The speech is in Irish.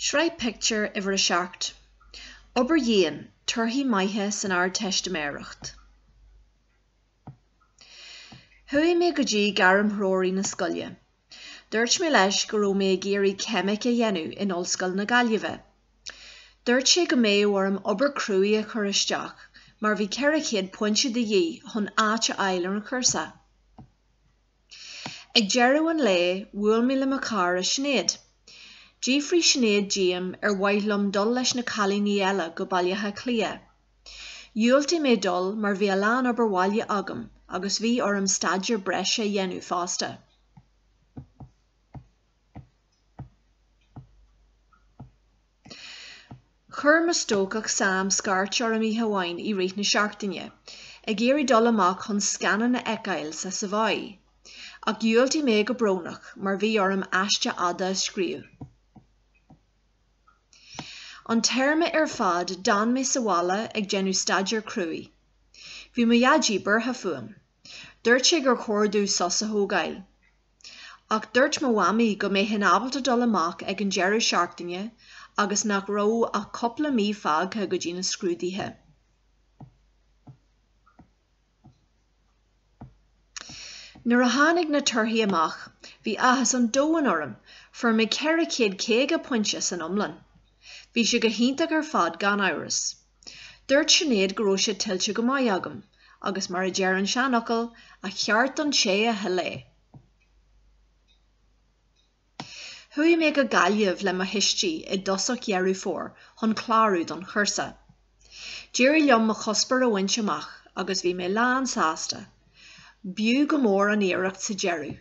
Sraith Pictiúr Uimhir a Seacht. Obair Dhian, Torthaí Maithe san Ardteistiméireacht. Chuaigh mé go dtí Gairmthreoraí na scoile. Dúirt mé leis go raibh mé ag iarraidh Ceimic a dhéanamh in Ollscoil na Gaillimhe. Dúirt sé go mbeadh orm obair cruaidh a chur isteach mar bhí 400 pointe de dhíth chun áit a fháil ar an chúrsa. Ag deireadh an lae, bhuail mé le mo chara Sinéad. D'fhiafraigh Sinéad díom ar mhaith liom dul leis na cailíní eile go Baile Átha Cliath. Dhiúltaigh mé dul mar bhí a lán obair bhaile agam agus bhí orm staidéar breise a dhéanamh fosta. Chuir mo stócach Sam scairt orm oíche amháin i rith na seachtaine, ag iarraidh dul amach chun scannán a fheiceáil sa Savoy. Ach dhiúltaigh mé go brónach, mar bhí orm aiste fhada a scríobh. An téarma ar fad, d'fhan mé sa bhaile ag déanamh staidéar cruaidh. Bhí mo Dhaidí buartha fúm. Dúirt sé gur chóir domh sos a thógáil. Ach dúirt mo mhamaí go mbeinn ábalta dul amach ag an deireadh seachtaine agus nach raibh ach cúpla mí fágtha go dtí na scrúduithe. Nuair a tháinig na torthaí amach, bhí áthas an domhain orm, fuair mé 450 pointe san iomlán. Bhí sé go hiontach ar fad gan amhras. Dúirt Sinéad go raibh sé tuillte go maith agam, agus mar a deir an seanfhocal, a cheart don té a thuill é. Chuaigh mé go Gaillimh le mo thuistí i dtosach Dheireadh Fómhair chun clárú don chúrsa. D'éirigh liom mo chuspóir a bhaint amach agus bhí mé lánsásta, b'fhiú go mór an iarracht sa deireadh.